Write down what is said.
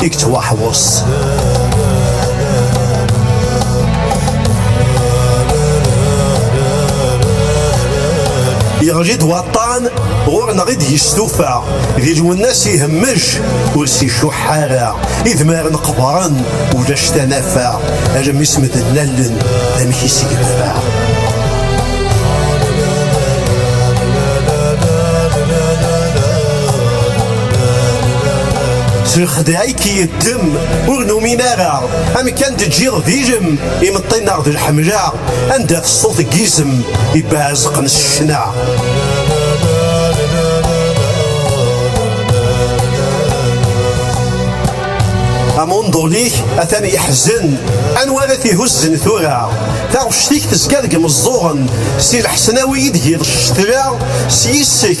i yettwaḥweṣ. Yeɣli-d waṭṭan ɣur-neɣ i d-yestufa, di Lwennas ihemmej ur s-icuḥ ara, idmaren qebren ulac tanafa, almi s medden lalen amek i s-yenfa. Zexdeɛ-ik-i ddem ur numin ara Amek a n-d-ǧǧiɣ d ilem Imeṭṭi neɣ d lḥemla Anda-t ṣṣut n yizem Ibbeɛzeqen s ccna Amunḍul-ik atan yeḥzen Anwa ara t-ihuzzen tura Taɣect-ik tezga deg imeẓẓuɣen Si lḥesnawi i d-giḍ ccetla S yis-k